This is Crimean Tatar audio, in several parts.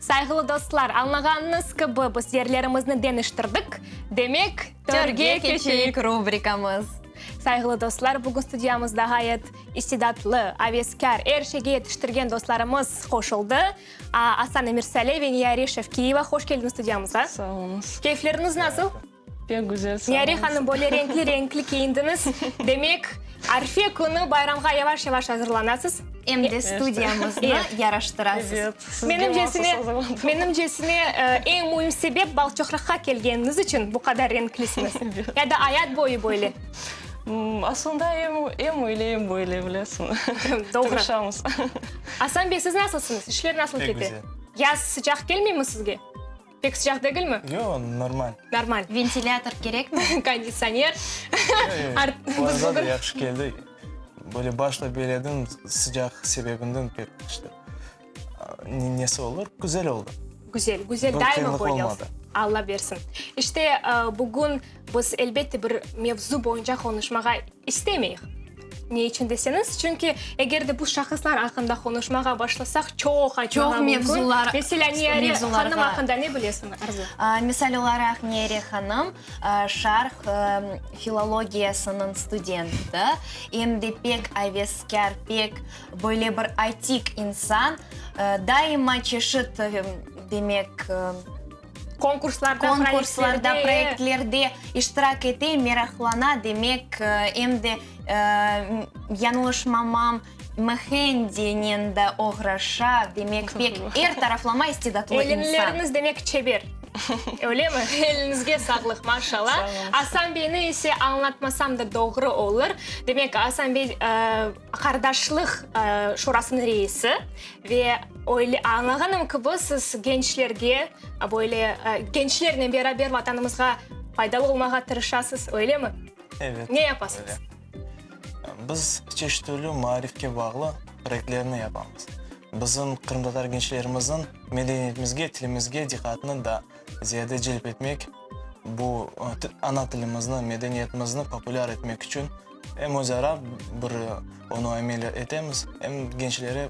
Sayğılı dostlar, añlağanıñız kibi, biz yerlerimizni deñiştirdik, demek, törge keçeyik rubrikamız. Sayğılı dostlar, bugün studiyamızda ğayet istidatlı, aveskâr, er şeyge yetiştirgen dostlarımız qoşuldı. Aslan Emirsali ve Niyari Şevkiyeva, hoş keldiniz studiyamıza. Sağ oluñız. Keyfleriñiz nasıl? Pek güzel, sağ olunız. Nyari hanım, böyle renkli-renkli kiyindiñiz. Demek, Arfe künü bayramğa yavaş-yavaş azırlanasız? Em de studiyamıznı yaraştırasız. Evet, sizge mahsus azırladım. Menimcesine, eñ müim sebep, Balçoqraqqa kelgeniñiz içün bu qadar renklisiñiz. Ya da ayat boyu böyle? Aslında, em öyle, em böyle, bilesiñiz. Doğru. Tırışamız. Asan bey, siz nasılsıñız? İşler nasıl kete? Pek güzel. Yaz sıcaq kelmeymi sizge? Pek sıcaq degilmi? Yoq, normal. Normal. Ventilâtor kerekmi? Konditsioner. Planğa yahşı keldik. Böyle başta böyle edim, sıcaq sebebinden pek işte nesi olur, güzel oldı. Güzel, güzel, daima böyle olsun. Alla bersin. İşte bugün. Biz, elbette, bir mevzu boyunca qonuşmağa istemeyik. Ne içün deseñiz, çünki eger de bu şahıslar aqqında qonuşmağa başlasaq, çoq aytmağa mümkün. Çoq mevzular. Meselâ, Niyare hanım aqqında ne bilesiñ, Arzu? Misal olaraq, Niyare hanım, Şarq filologiyasınıñ studenti, em de pek aveskâr, pek böyle bir atik insan. Daima çeşit, demek, Konkurslarda, proektlerde. Konkurslarda, proektlerde iştirak ete, meraqlana, demek, em de, yañlışmamam, mehendinen de oğraşa, demek, pek er taraflama istidatlı insan. Elinleriniz, demek, çeber, öyle mi? Elinizge sağlıq, maşallah. Sağ olun. Asan beyni ise añlatmasam da doğru olur. Demek, Asan bey, Qardaşlıq Şurasınıñ reisi ve öyle añlağanım kibi, siz gençlerge böyle gençlernen beraber Vatanımızğa faydalı olmağa tırışasız, öylemi? Evet. Ne yapasız? Biz çeşit türlü maarifke bağlı proyektlerni yapamız. Bizim qırımtatar gençlerimizin medeniyetimizge, tilimizge diqqatını da ziyade celp etmek, bu ana tilimizni, medeniyetimizni populâr etmek içün em özara bir onı amel etemiz, em gençlere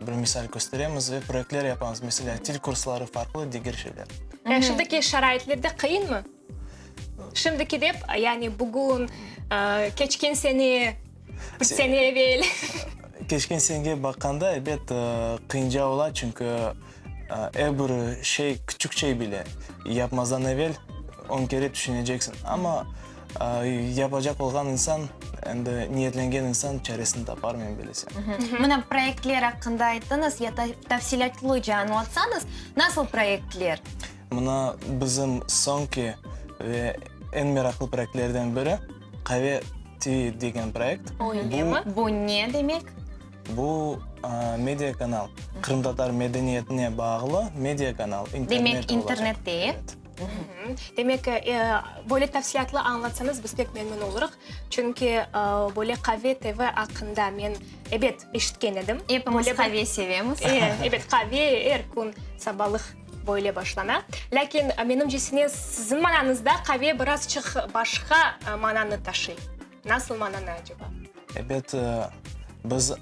bir misal kösteremiz ve proyektler yapamız, meselâ, til kursları, farqlı diger şeyler. Yani şimdiki şaraitlerde qıyınmı? Şimdiki dep, yani bugün, keçken sene, üç sene evel. Keçken senege baqqanda, elbet, qıyınca ola, çünki, Er bir şey, küçük şey bile, yapmazdan evel on kere tüşüneceksiñ. Amma yapacaq olğan insan, endi niyetlengen insan çaresini tapar, men bilesem. Mına, proyektler aqqında ayttıñız, ya da tafsilâtlıca añlatsañız, nasıl proyektler? Mına, bizim soñki ve eñ meraqlı proyektlerden biri, Qave TV degen proyekt. Bu ne demek? Bu media kanal, qırımtatar medeniyetine bağlı media kanal. Demek internet değil. Demek böyle tafsilâtlı añlatsanız biz pek memnün olurıq. Çünki böyle QAVE TV aqqında men ebet eşitken edim. Epimiz QAVE sevemiz. Ebet QAVE er kün sabalıq böyle başlana. Lâkin menimcesine siziñ mananızda QAVE birazçıq başqa mananı taşıy. Nasıl mananı aceba? Ebet, biz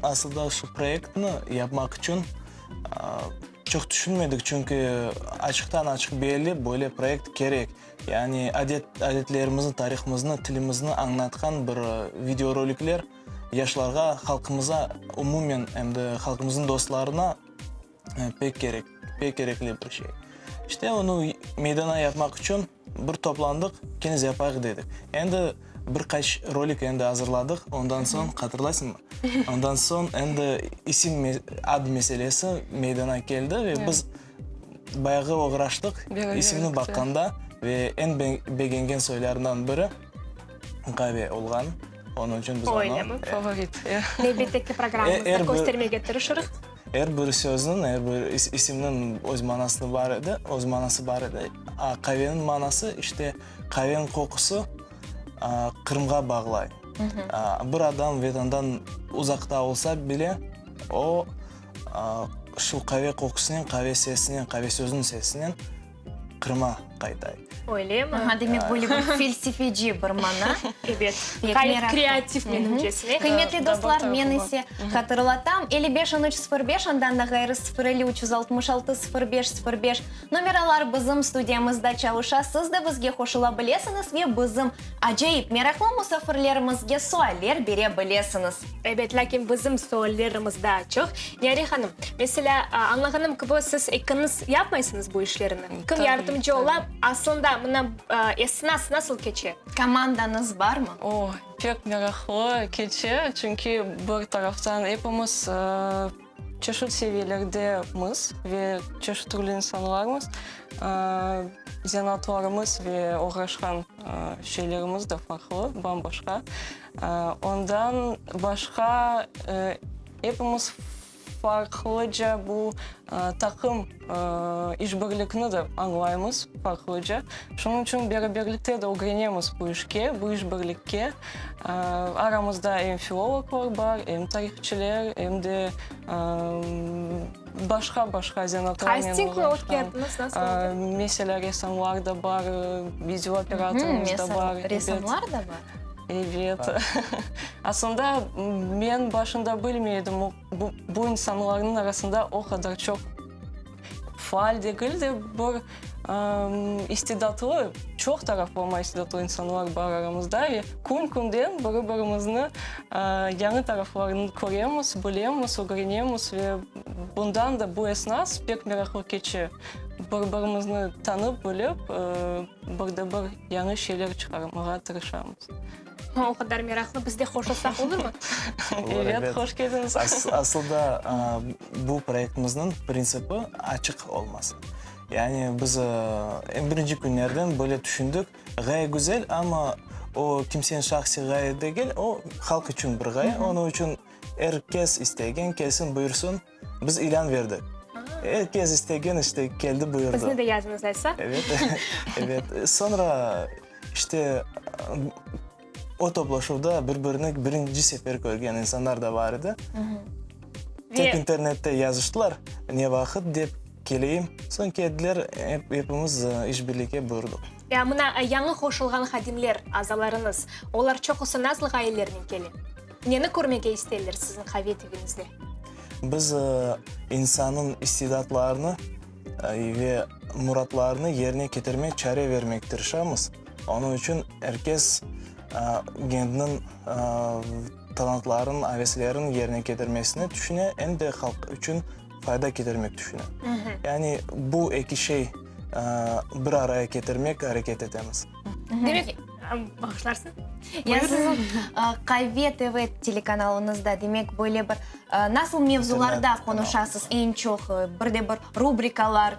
asılda şu proyektni yapmaq içün çoq tüşünmedik, çünki açıqtan-açıq belli, böyle proyekt kerek. Yani adetlerimizni, tarihımıznı, tilimizni añlatqan bir videorolikler yaşlarğa, halqımıza umumen, em de halqımıznıñ dostlarına. Pek kerek, pek kerekli bir şey. İşte onı meydana yapmaq içün bir toplandıq, keniz yapayıq dedik. Endi bir qaç rolik endi azırladıq, ondan soñ, hatırlaysıñmı? Ondan soñ endi isim, ad meselesi meydana keldi ve biz bayağı oğraştıq isimni baqqanda ve eñ begengen soylarından biri Gavi olğan. Onıñ içün biz onı. Öyle mi? Favorite. Elbette ki, programımızda köstermege tırışırıq. Er bir sözniñ, er bir isimniñ öz manası bar edi, öz manası bar edi. A qaveniñ manası, işte, qaveniñ qoqusı Qırımğa bağlay. Bir adam Vedandan uzaqta olsa bile, o, şu qave qoqusınen, qave sesinen, qave sözüniñ sesinen Qırım'a qaytay. Öylemi? Aha, demek, böyle bir felsefeci bir mana. Evet, gayet kreativ menimcesine. Qıymetli dostlar, men ise hatırlatam, elli beş on üç sıfır beş, ondan da ğayrı sıfır elli üç yüz altmış altı sıfır beş sıfır beş nomeralar bizim studiyamızda çalışa, siz de bizge qoşula bilesiñiz ve bizim acayip meraqlı musafirlerimizge sualler bere bilesiñiz. Ebet, lâkin bizim suallerimiz daa çoq. Niyare hanım, meselâ, añlağanım kibi, siz ekiniz yapmaysıñız bu işlerni. Kim yardımcı ola? Aslında mına esnas nasıl keçe? Komandañız barmı? O, pek meraqlı keçe, çünki bir taraftan epimiz, Çeşit seviyelerde miz ve çeşit türlü insanlarmız, zanaatlarımız ve oğraşqan şeylerimiz de farqlı, bam-başqa. Ondan başqa, epimiz farqlıca bu taqım. İşbirlikni de añlaymız farqlıca. Şunıñ içün beraberlikte de ögrenemiz bu işke, bu işbirlikke. Aramızda em filologlar bar, em tarihçiler, em de başqa-başqa zanaatlarnen oğraşqan, meselâ, ressamlar da bar, videooperatorımız da bar. Ressamlar da bar? Evet. Aslında men başında bilmey edim. Bu insanlarnıñ arasında o qadar çoq faal degil de, bir istidatlı, çoq taraflama istidatlı insanlar bar aramızda. Ve kün-künden biri-birimizniñ yañı taraflarını köremiz, bilemiz, ögrenemiz. Ve bundan da bu esnas pek meraqlı keçe, bir-birimizni tanıp-bilip, bir de bir yañı şeyler çıqarmağa tırışamız. O qadar meraqlı, biz de qoşulsaq olurmı? Evet, hoş keldiñiz. Asılda bu proyektimiznıñ printsipi açıq olması. Yani biz eñ birinci künlerden böyle tüşündik, ğaye güzel, amma o kimseniñ şahsiy ğaye degil, o halq içün bir ğaye, onıñ içün er kes istegen kelsin, buyursın. Biz ilân berdik. Er kes istegen işte keldi buyurdı. Bizni de yazıñız aysa. Evet, evet. Soñra işte o toplaşuvda bir birini birinci sefer körgen insanlar da bar edi. Tek internette yazıştılar, ne vaqıt dep keleyim. Soñ keldiler, epimiz işbirlike buyurdıq. Ya mına yañı qoşulğan hadimler, azalarıñız, olar çoqusı nasıl ğayelernen kele? Neni körmege isteyler siziñ qave tüviñizde? Biz insannıñ istidadlarını ve muratlarını yerine ketirmek, çare vermek tırışamız. Onıñ içün er kes kendiniñ talantların, aveslerin yerine ketirmesine tüşüne, em de halq içün fayda ketirmek tüşüne. Yani bu eki şey bir araya ketirmek areket etemiz. Demek, Bağışlarsıñ. Yani siziñ QAVE TV telekanalınızda, demek, böyle bir nasıl mevzularda qonuşasız eñ çoq? Bir de bir rubrikalar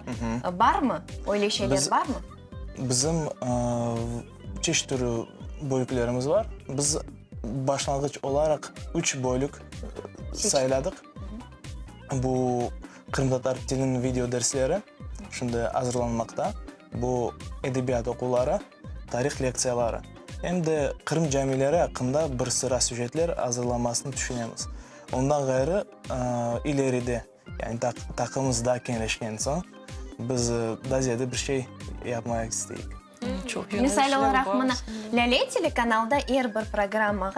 barmı? Öyle şeyler barmı? Bizim çeşit türü bölüklerimiz bar. Biz başlanğıç olaraq üç bölük sayladıq. Bu qırımtatar tiliniñ videodersleri şimdi azırlanmaqta. Bu edebiyat oquvları. tarih lektsiyaları, em de Qırım camileri aqqında bir sıra süjetler azırlanmasını tüşünemiz. Ondan ğayrı, ileride, yani taqımız daa keñleşken soñ, biz daa ziyade bir şey yapmaq isteyik. Misal olaraq, mına, Lâle telekanalda er bir programmağa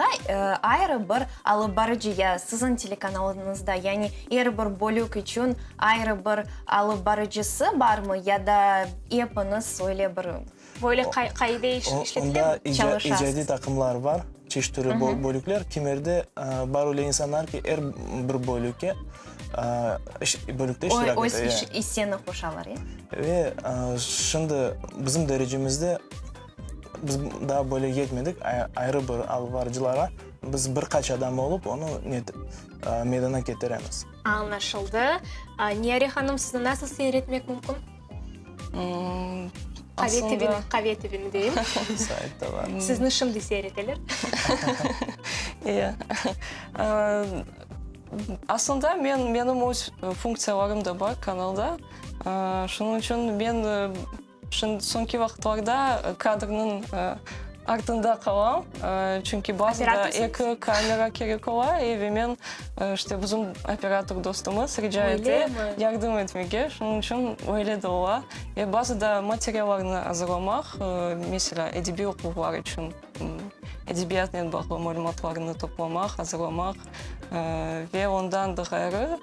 ayrı bir alıp barıcı ya Siziñ telekanalıñızda, yani er bir bölük içün ayrı bir, Alıp barıcısı barmı ya da epiñiz öyle bir Böyle qay qaide iş işletilemi? Onda ica Çalışasız. icadiy taqımlar bar, çeşit türlü bö bölükler. Kimerde bar öyle insanlar ki, er bir bölükke iş bölükte Oy iştirak öz ete, iş ya. iseni qoşalar, ya? Ve şimdi bizim derecemizde biz daa böyle yetmedik ay ayrı bir alıp barıcılarğa. Biz bir qaç adam olıp, onı net meydana ketiremiz. Añlaşıldı. Niyare hanım, sizni nasıl seyretmek mümkün? Qave TVni deyim. Sizni şimdi seyreteler. İyi. Aslında menim öz funksiyalarım da bar kanalda. Şunıñ içün men Şimdi soñki vaqıtlarda kadrnıñ artında qalam, çünki bazıda eki kamera kerek ola, ve men, işte, bizim operator dostumız rica ete yardım etmege, şunıñ içün öyle de ola. Ve bazıda materiallarnı azırlamaq, meselâ, edebiy oquvlar içün edebiyatnen bağlı malümatlarnı toplamaq, azırlamaq, ve ondan da ğayrı,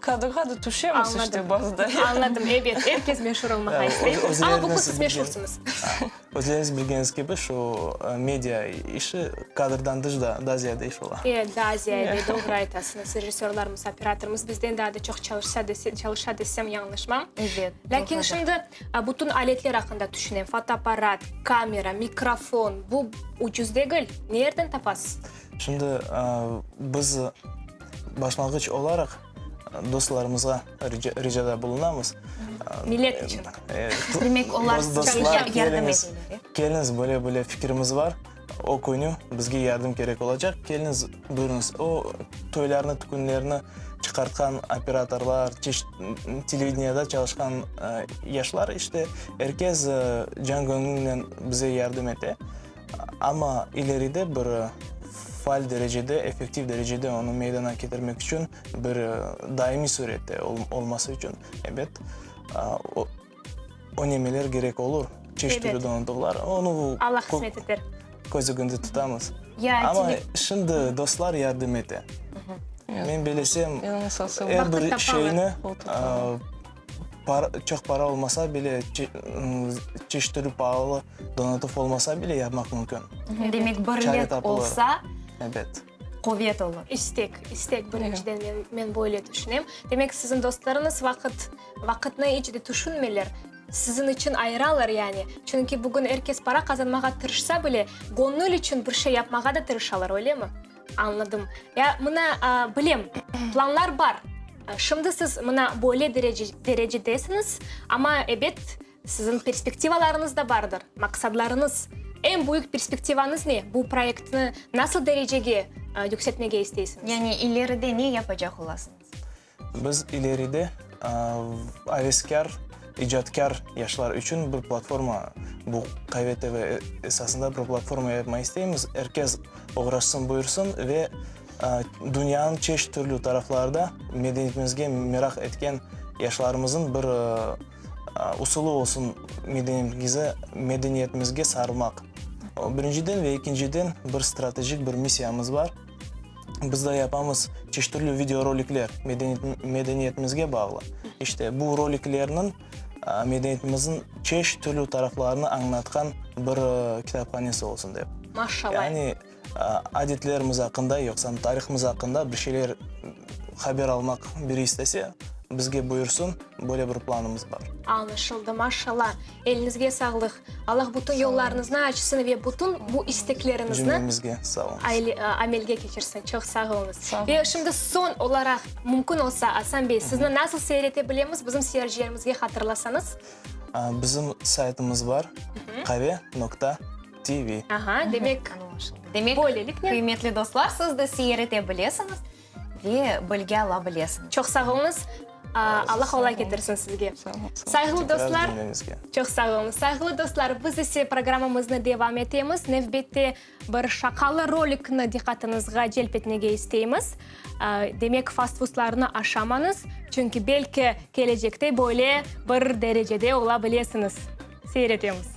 Kadrğa da tüşemiz işte bazı da. Anladım, ebet, er kes meşur olmağa istey. Amma bugün siz meşursınız. Özleriñiz bilgeniz kibi, şu media işi kadrdan dış da daa ziyade iş ola. E, daa ziyade, doğru aytasıñız. Rejissörlarımız, operatorımız bizden daa da çoq çalışa desem yañlışmam. Ebet, doğrudır. Lâkin şimdi bütün aletler aqqında tüşünem, fotoapparat, kamera, mikrofon, bu ucuz degil. Nerden tapasız? Şimdi biz başlanğıç olaraq dostlarımızğa ricada bulunamız. Millet içün. Demek, olar sizge yardım etmeli. Keliniz, böyle-böyle fikrimiz bar, o künü bizge yardım kerek olacaq, keliniz, buyurıñız. O toylarnı, tükünlerni çıqartqan operatorlar, televideniyede çalışqan yaşlar, işte, er kes can-köñülnen bize yardım ete. Amma ileride bir faal derecede, effektiv derecede onı meydana ketirmek içün bir daimiy sürette olması içün, ebet, önemeler gerek olur, çeşit türlü donandıqlar. Onı köz ögünde tutamız. Amma şimdi dostlar yardım ete. Men bilesem, er bir şeyni, Çoq para olmasa bile, çeşit türlü paalı donatıf olmasa bile yapmaq mümkün. Demek, birlik olsa, quvet olur. İstek, istek birinciden, men böyle tüşünem. Demek, siziñ dostlarıñız vaqıtnı iç de tüşünmeyler, siziñ içün ayıralar yani. Çünki bugün er kes para qazanmağa tırışsa bile, göñül içün bir şey yapmağa da tırışalar, öylemi? Añladım. Ya, mına, bilem, planlar bar. Şimdi siz mına böyle derecedesiñiz, amma, ebet, siziñ perspektivalarıñız da bardır, maqsadlarıñız. Eñ büyük perspektivañız ne? Bu proyektni nasıl derecege yükseltmege isteysiñiz? Yani ileride ne yapacaq olasıñız? Biz ileride aveskâr, icatkâr yaşlar içün bir platforma, bu QV TV esasında bir platforma yapma isteymiz. Er kes oğraşsın, buyursın ve dünyanıñ çeşit türlü taraflarda medeniyetimizge meraq etken yaşlarımızın bir usulı olsun medeniyetimizge sarılmaq. Birinciden ve ekinciden bir strategik bir missiyamız bar. biz da yapamız çeşit türlü video rolikler, medeniyetimizge bağlı. İşte bu roliklerniñ medeniyetimizin çeşit türlü taraflarını añlatqan bir kitaphanesi olsun dep. Maşallah. Yani adetlerimiz aqqında, yoqsam tarihimiz aqqında bir şeyler haber almaq biri istese, bizge buyursın, böyle bir planımız bar. Añlaşıldı, maşallah. Elinizge sağlıq. Allah bütün yollarınıznı açsın ve bütün bu isteklerinizne amelge keçirsin. Çoq sağ oluñız. Ve şimdi son olaraq mümkün olsa Asan bey sizni nasıl seyrete bilemiz bizim seyircilerimizge hatırlasanız. Bizim saytımız bar qare nokta TV. Demek böyleliknen. Qıymetli dostlar siz de seyrete bilesiñiz. Ve bilge ala bilesiñ. Çoq sağ olunız. Alla qolay ketirsin sizge. Sayğılı dostlar, çoq sağ olunız. Sayğılı dostlar, biz ise programmamıznı devam etemiz. Nevbette bir şaqalı rolikni diqqatınızğa celp etmege isteymiz. Demek, fastfuslarnı aşamañız, çünki belki kelecekte böyle bir derecede ola bilesiñiz. Seyir etemiz.